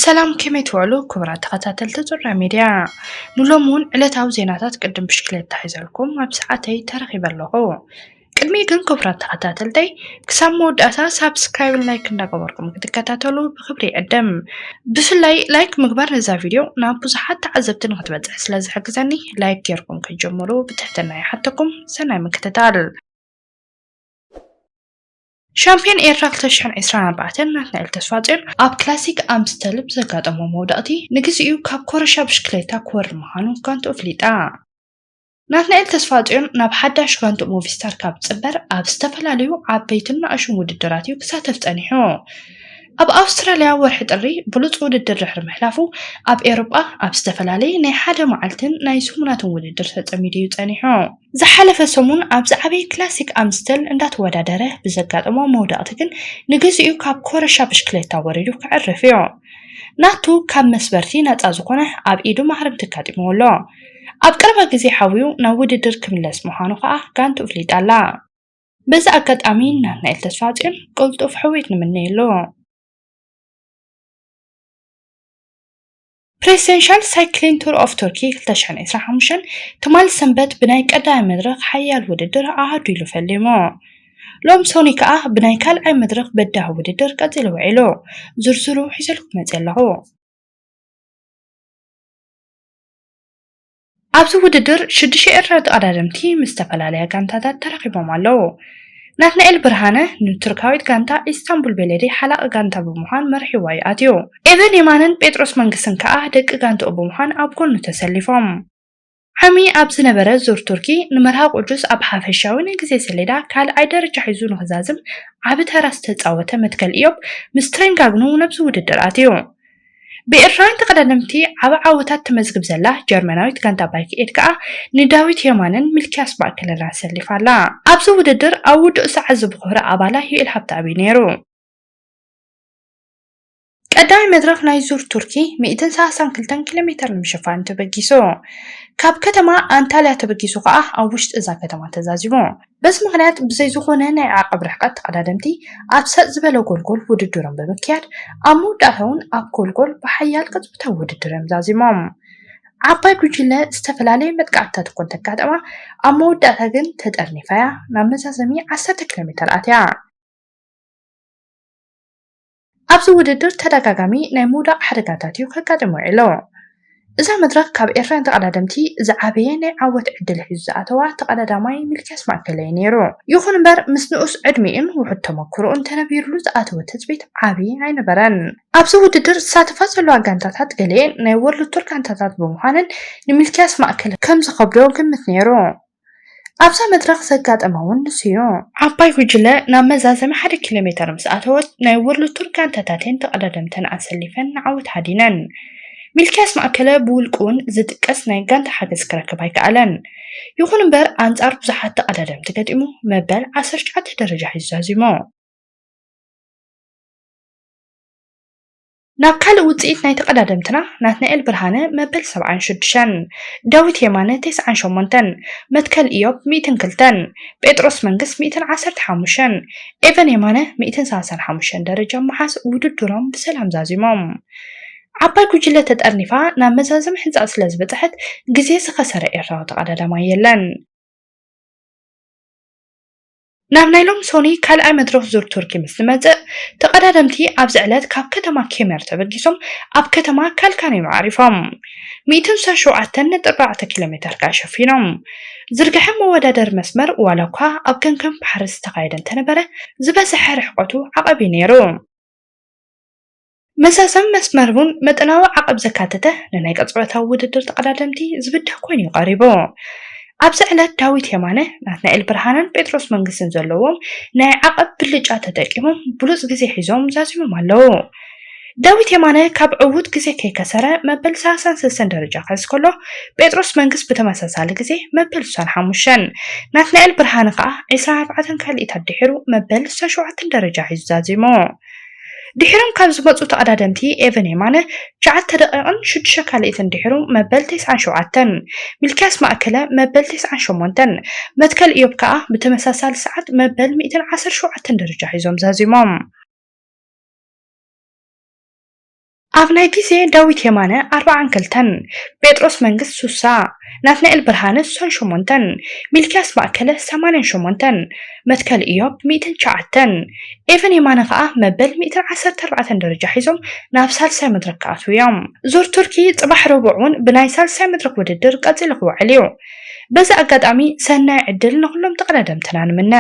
ሰላም ከመይ ትውዕሉ ክቡራት ተኸታተልቲ ዙራ ሚድያ ንሎሚ እውን ዕለታዊ ዜናታት ቅድም ብሽክሌታ ሒዘልኩም ኣብ ሰዓተይ ተረኺበ ኣለኹ ቅድሚ ግን ክቡራት ተኸታተልተይ ክሳብ መወዳእታ ሳብስክራይብን ላይክ እንዳገበርኩም ክትከታተሉ ብክብሪ ይዕድም ብፍላይ ላይክ ምግባር ነዛ ቪድዮ ናብ ብዙሓት ተዓዘብቲ ንክትበፅሕ ስለ ዝሕግዘኒ ላይክ ጌርኩም ክትጀምሩ ብትሕትና ይሓተኩም ሰናይ ምክትታል ሻምፕዮን ኤርትራ ክልተ ሽሕን ዕስራን ኣርባዕተን ናትናኤል ተስፋጽዮን ኣብ ክላሲክ ኣምስተል ብዘጋጠሞ መውደቕቲ ንግዚኡ ካብ ኮረሻ ብሽክሌታ ክወርድ ምዃኑ ጋንትኡ ኣፍሊጣ። ናትናኤል ተስፋጽዮን ናብ ሓዳሽ ጋንትኡ ሞቪስታር ካብ ዝጽንበር ኣብ ዝተፈላለዩ ዓበይትን ናእሹን ውድድራት እዩ ክሳተፍ ጸኒሑ። ኣብ ኣውስትራልያ ወርሒ ጥሪ ብሉጽ ውድድር ድሕሪ ምሕላፉ ኣብ ኤውሮጳ ኣብ ዝተፈላለየ ናይ ሓደ መዓልትን ናይ ሰሙናትን ውድድር ተጸሚዱ እዩ ጸኒሑ። ዝሓለፈ ሰሙን ኣብ ዝዓበየ ክላሲክ ኣምስተል እንዳተወዳደረ ብዘጋጠሞ መውደቕቲ ግን ንግዚኡ ካብ ኮረሻ ብሽክሌታ ወሪዱ ከዕርፍ እዩ። ናቱ ካብ መስበርቲ ነጻ ዝኾነ ኣብ ኢዱ ማህረምቲ ኣጋጢምዎ ኣሎ። ኣብ ቀረባ ግዜ ሓውዩ ናብ ውድድር ክምለስ ምዃኑ ከኣ ጋንትኡ ኣፍሊጣ ኣላ። በዚ ኣጋጣሚ ንናትናኤል ተስፋጽዮን ቅልጡፍ ሕውየት ንምነየሉ። ፕሬሲደንሻል ሳይክሊን ቱር ኦፍ ቱርኪ 2025 ትማል ሰንበት ብናይ ቀዳማይ መድረኽ ሓያል ውድድር ኣሃዱ ኢሉ ፈሊሙ። ሎም ሶኒ ከኣ ብናይ ካልኣይ መድረኽ በዳህ ውድድር ቀጺሉ ውዒሉ። ዝርዝሩ ሒዘልኩም መጺ ኣለኹ። ኣብዚ ውድድር ሽዱሽተ ኤርትራዊ ተቐዳደምቲ ምስ ዝተፈላለያ ጋንታታት ተራኺቦም ኣለዉ። ናትናኤል ብርሃነ ንቱርካዊት ጋንታ ኢስታንቡል ቤሌዲ ሓላቒ ጋንታ ብምዃን መሪሕዋ'ዩ ኣትዩ። ኤቨን የማነን ጴጥሮስ መንግስትን ከኣ ደቂ ጋንትኡ ብምዃን ኣብ ጎኑ ተሰሊፎም። ዓሚ ኣብ ዝነበረ ዙር ቱርኪ፣ ንመርሃ ቁዱስ ኣብ ሓፈሻዊ ናይ ግዜ ሰሌዳ ካልኣይ ደረጃ ሒዙ ንኽዛዝም ዓቢ ተራ ዝተጻወተ መትከል ኢዮብ ምስ ትሬንጋግኑ ናብዚ ውድድር ኣትዩ። ብኤርትራውያን ተቐዳደምቲ ዓቢ ዓወታት ተመዝግብ ዘላ ጀርመናዊት ጋንታ ባይክ ኤድ ከኣ ንዳዊት የማነን ሚልክያስ ባእከለናን ኣሰሊፋ ኣላ። ኣብዚ ውድድር ኣብ ውዱእ ሰዓት ዝቦኾረ ኣባላ ዩኤል ሃብተኣብ'ዩ ነይሩ። ቀዳማይ መድረኽ ናይ ዙር ቱርኪ ሚእትን ሰላሳን ክልተን ኪሎሜተር ንምሽፋኑ ተበጊሱ። ካብ ከተማ ኣንታልያ ተበጊሱ ከኣ ኣብ ውሽጢ እዛ ከተማ ተዛዚሙ። በዚ ምኽንያት ብዘይ ዝኾነ ናይ ዓቐብ ርሕቐት ተቐዳደምቲ ኣብ ሰጥ ዝበለ ጎልጎል ውድድሮም ብምክያድ ኣብ መወዳእታ'ውን ኣብ ጎልጎል ብሓያል ቅጽበታዊ ውድድር'ዮም ዛዚሞም። ዓባይ ጉጅለ ዝተፈላለየ መጥቃዕትታት እኳ እንተጋጠማ ኣብ መወዳእታ ግን ተጠርኒፋ'ያ ናብ መዛዘሚ ዓሰርተ ኪሎሜተር ኣትያ። ኣብዚ ውድድር ተደጋጋሚ ናይ ምውዳቕ ሓደጋታት እዩ ከጋጥም ውዒሉ። እዛ መድረኽ ካብ ኤርትራውያን ተቐዳደምቲ ዝዓበየ ናይ ዓወት ዕድል ሒዙ ዝኣተዋ ተቐዳዳማይ ሚልክያስ ማእከለ እዩ ነይሩ። ይኹን እምበር ምስ ንኡስ ዕድሚኡን ውሑድ ተመኩሮኡን ተነቢርሉ ዝኣተወ ትጽቢት ዓቢ ኣይነበረን። ኣብዚ ውድድር ዝሳተፋ ዘለዋ ጋንታታት ገሊኤን ናይ ዎርልድ ቱር ጋንታታት ብምዃነን ንሚልክያስ ማእከለ ከም ዝኸብዶ ግምት ነይሩ። ኣብዛ መድረኽ ዘጋጠመ እውን ንሱ'ዩ። ዓባይ ጉጅለ ናብ መዛዘሚ ሓደ ኪሎ ሜተር ምስ ኣተወት፣ ናይ ዎርልድ ቱር ጋንታታት'የን ተቐዳደምተን ኣሰሊፈን ንዓወት ሃዲነን። ሚልክያስ ማእከለ ብውልቁ'ውን ዝጥቀስ ናይ ጋንታ ሓገዝ ክረክብ ኣይከኣለን። ይኹን'ምበር ኣንጻር ብዙሓት ተቐዳደምቲ ገጢሙ መበል ዓሰርተ ትሽዓተ ደረጃ ሒዙ ዛዚሙ። ናብ ካልእ ውጽኢት ናይ ተቐዳደምትና ናትናኤል ብርሃነ መበል ሰብዓን ሽዱሸን፣ ዳዊት የማነ ተስዓን ሸሞንተን፣ መትከል ኢዮብ ሚእትን ክልተን፣ ጴጥሮስ መንግስ ሚእትን ዓሰርተ ሓሙሸን፣ ኤቨን የማነ ሚእትን ሰላሳን ሓሙሸን ደረጃ ብምሓዝ ውድድሮም ብሰላም ዛዚሞም። ዓባይ ጉጅለ ተጠርኒፋ ናብ መዛዘሚ ሕንጻጽ ስለ ዝበጽሐት ግዜ ዝኸሰረ ኤርትራዊ ተቐዳዳማይ የለን። ናብ ናይ ሎም ሶኑይ ካልኣይ መድረኽ ዙር ቱርኪ ምስ ዝመጽእ፣ ተቐዳደምቲ ኣብዚ ዕለት ካብ ከተማ ኬመር ተበጊሶም ኣብ ከተማ ካልካኒም ኣዕሪፎም ሚእትን ሰን ሸውዓተን ነጥቢ ኣርባዕተ ኪሎሜተር ከኣ ሸፊኖም ዝርግሐ መወዳደሪ መስመር ዋላኳ ኣብ ከንከን ባሕሪ ዝተኻየደ እንተነበረ ዝበዘሐ ርሕቐቱ ዓቐብ'ዩ ነይሩ። መዛዘሚ መስመር እውን መጠናዊ ዓቐብ ዘካተተ ንናይ ቅጽበታዊ ውድድር ተቐዳደምቲ ዝብድህ ኮይኑ እዩ ቀሪቡ። ኣብዚ ዕለት ዳዊት የማነ፣ ናትናኤል ብርሃነን ጴጥሮስ መንግስትን ዘለዎም ናይ ዓቐብ ብልጫ ተጠቂሞም ብሉጽ ግዜ ሒዞም ዛዚሞም ኣለዉ። ዳዊት የማነ ካብ ዕዉት ግዜ ከይከሰረ መበል ሰላሳን ሰለስተን ደረጃ ክሕዝ ከሎ፣ ጴጥሮስ መንግስ ብተመሳሳሊ ግዜ መበል ስሳን ሓሙሽተን፣ ናትናኤል ብርሃነ ከኣ ዕስራን ኣርባዕተን ካልኢት ኣድሒሩ መበል ስሳን ሸውዓተን ደረጃ ሒዙ ዛዚሙ። ድሒሮም ካብ ዝመጹ ተቐዳደምቲ ኤቨን የማነ ትሽዓተ ደቒቕን ሽዱሽተ ካልኢትን ድሒሩ መበል ተስዓን ሸውዓተን፣ ሚልክያስ ማእከለ መበል ተስዓን ሸሞንተን፣ መትከል እዮብ ከኣ ብተመሳሳሊ ሰዓት መበል ሚእትን ዓሰርተ ሸውዓተን ደረጃ ሒዞም ዛዚሞም። ኣብ ናይ ግዜ ዳዊት የማነ ኣርብዓን ክልተን፣ ጴጥሮስ መንግስት ሱሳ፣ ናትናኤል ብርሃነ ሱሳን ሸሞንተን፣ ሚልክያስ ማእከለ ሰማንያን ሸሞንተን፣ መትከል እዮብ ሚእትን ትሽዓተን፣ ኤቨን የማነ ከኣ መበል ሚእትን ዓሰርተ ኣርባዕተን ደረጃ ሒዞም ናብ ሳልሳይ መድረኽ ክኣትዉ እዮም። ዙር ቱርኪ ጽባሕ ረቡዕ ውን ብናይ ሳልሳይ መድረኽ ውድድር ቀጺሉ ክውዕል እዩ። በዚ ኣጋጣሚ ሰናይ ዕድል ንኹሎም ተቐዳደምትና ንምነ።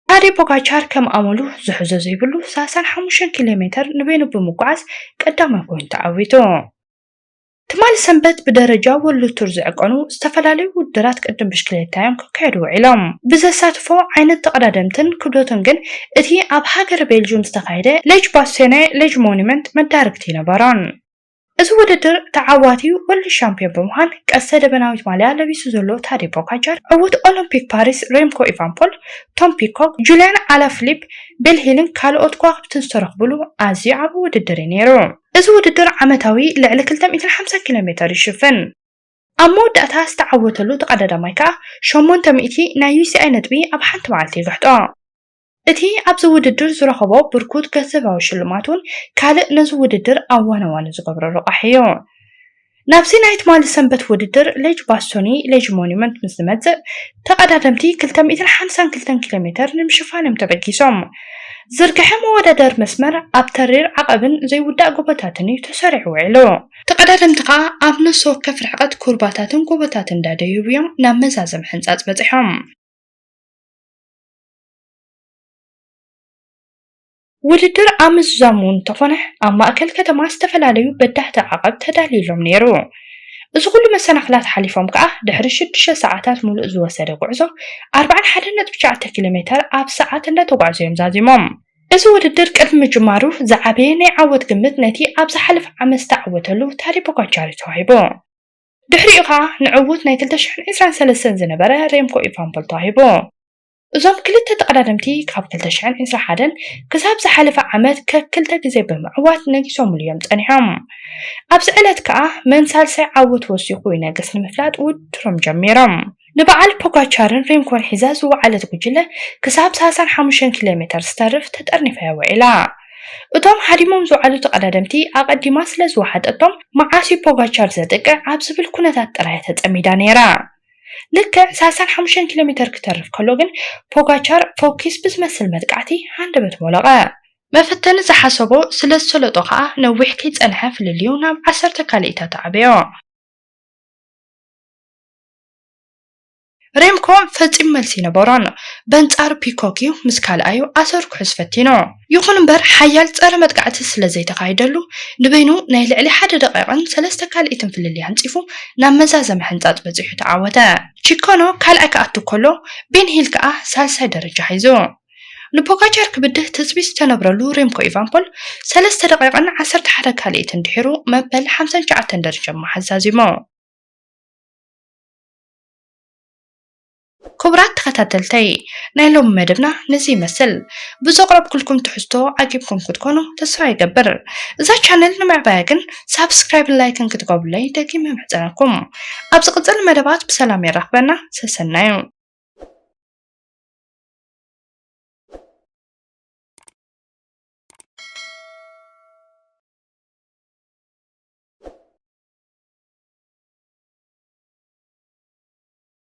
ታዴ ፖጋቻር ከም ኣመሉ ዝሕዞ ዘይብሉ ሰላሳን ሓሙሽተን ኪሎ ሜተር ንበይኑ ብምጉዓዝ ቀዳማይ ኮይኑ ተዓዊቱ። ትማሊ ሰንበት ብደረጃ ወርልድ ቱር ዝዕቀኑ ዝተፈላለዩ ውድድራት ቅድድም ብሽክሌታ'ዮም ክካየዱ ውዒሎም። ብዘሳትፎ ዓይነት ተቐዳደምትን ክብደቱን ግን እቲ ኣብ ሃገረ ቤልጁም ዝተኻየደ ሌጅ ባስቶኔ ሌጅ ሞኑመንት መዳርግቲ ነበሮን። እዚ ውድድር ተዓዋቲ ወልድ ሻምፒዮን ብምዃን ቀስተ ደበናዊት ማልያ ለቢሱ ዘሎ ታዴ ፖጋቻር፣ ዕዉት ኦሎምፒክ ፓሪስ ሬምኮ ኢቫንፖል፣ ቶም ፒኮክ፣ ጁልያን ኣላፍሊፕ፣ ቤል ሂልን ካልኦት ከዋኽብትን ዝተረኽብሉ ኣዝዩ ዓቢ ውድድር እዩ ነይሩ። እዚ ውድድር ዓመታዊ ልዕሊ ክልተ ሚእትን ሓምሳን ኪሎ ሜተር ይሽፍን። ኣብ መወዳእታ ዝተዓወተሉ ተቐዳዳማይ ከኣ ሸሞንተ ሚእቲ ናይ ዩሲኣይ ነጥቢ ኣብ ሓንቲ መዓልቲ ይግሕጦ። እቲ ኣብዚ ውድድር ዝረኸቦ ብርኩት ገንዘባዊ ሽልማት'ውን ካልእ ነዚ ውድድር ኣዋናዋኒ ዝገብሮ ረቛሒ እዩ። ናብዚ ናይ ትማሊ ሰንበት ውድድር ሌጅ ባስቶኒ፣ Lege Monument፣ ምስ ዝመጽእ፣ ተቐዳደምቲ ክልተ ሚእትን ሓምሳን ክልተን ኪሎ ሜተር ንምሽፋን እዮም ተበጊሶም። ዝርግሐ መወዳደሪ መስመር ኣብ ተሪር ዓቐብን ዘይውዳእ ጎቦታትን እዩ ተሰሪዑ ውዒሉ። ተቐዳደምቲ ከኣ ኣብ ነፍሲ ወከፍ ርሕቐት ኩርባታትን ጎቦታትን እንዳደየቡ እዮም ናብ መዛዘሚ ሕንጻጽ በጺሖም። ውድድር ኣብ ምዝዛሙ እንተኾነ ኣብ ማእከል ከተማ ዝተፈላለዩ በዳህቲ ዓቐብ ተዳልዩሎም ነይሩ። እዚ ኩሉ መሰናኽላት ሓሊፎም ከኣ ድሕሪ ሽዱሽተ ሰዓታት ሙሉእ ዝወሰደ ጉዕዞ ኣርብዓን ሓደን ነጥቢ ትሽዓተ ኪሎ ሜተር ኣብ ሰዓት እንዳተጓዕዙ እዮም ዛዚሞም። እዚ ውድድር ቅድሚ ምጅማሩ ዝዓበየ ናይ ዓወት ግምት ነቲ ኣብ ዝሓለፈ ዓመት ዝተዓወተሉ ታዴ ፖጋቻር'ዩ ተዋሂቡ። ድሕሪኡ ከኣ ንዕዉት ናይ ክልተ ሽሕን ዒስራን ሰለስተን ዝነበረ ሬምኮ ኢቫንፖል ተዋሂቡ። እዞም ክልተ ተቐዳደምቲ ካብ 2021 ክሳብ ዝሓለፈ ዓመት ከክልተ ግዜ ብምዕዋት ነጊሶምሉ እዮም ጸኒሖም። ኣብዚ ዕለት ከኣ መን ሳልሳይ ዓወት ወሲኹ ይነግስ ንምፍላጥ ውድድሮም ጀሚሮም። ንበዓል ፖጋቻርን ሪምኮን ሒዛ ዝወዓለት ጉጅለ ክሳብ ሳልሳን ሓሙሽተን ኪሎ ሜተር ዝተርፍ ተጠርኒፋ እያ ውዒላ። እቶም ሃዲሞም ዝወዓሉ ተቐዳደምቲ ኣቐዲማ ስለ ዝወሓጠቶም መዓስ እዩ ፖጋቻር ዘጥቅዕ ኣብ ዝብል ኩነታት ጥራይ እያ ተጸሚዳ ነይራ። ልክዕ ሳልሳን ሓሙሽተን ኪሎ ሜተር ክተርፍ ከሎ ግን ፖጋቻር ፈኲስ ብዝመስል መጥቃዕቲ ሃንደበት ሞለቐ። መፈተኒ ዝሓሰቦ ስለ ዝሰለጦ ከኣ ነዊሕ ከይጸንሐ ፍልልዩ ናብ ዓሰርተ ካልኢታት ኣዕበዮ። ሬምኮ ፈጺሙ መልሲ ኣይነበሮን። በንጻሩ ፒኮክ'ዩ ምስ ካልኣዩ ኣሰር ክሑዝ ፈቲኑ። ይኹን እምበር ሓያል ጸረ መጥቃዕቲ ስለ ዘይተኻይደሉ፣ ንበይኑ ናይ ልዕሊ ሓደ ደቒቕን ሰለስተ ካልኢትን ፍልልይ ኣንጺፉ ናብ መዛዘሚ ሕንጻጽ በጺሑ ተዓወተ። ቺኮኖ ካልኣይ ክኣቱ ከሎ፣ ቤን ሂል ከኣ ሳልሳይ ደረጃ ሒዙ። ንፖጋቻር ክብድህ ትጽቢት ዝተነብረሉ ሬምኮ ኢቫንፖል፣ ሰለስተ ደቒቕን ዓሰርተ ሓደ ካልኢትን ድሒሩ መበል ሓምሳን ትሽዓተን ደረጃ ብምሓዝ ዛዚሙ። ክቡራት ተኸታተልተይ ናይ ሎሚ መደብና ነዚ ይመስል ብዘቕረብኩልኩም ትሕዝቶ ዓጊብኩም ክትኮኑ ተስፋ ይገብር እዛ ቻነል ንምዕባያ ግን ሳብስክራይብን ላይክን ክትገብሩለይ ደጊመ እምሕጸነኩም ኣብ ዝቕጽል መደባት ብሰላም የራኽበና ሰሰናዩ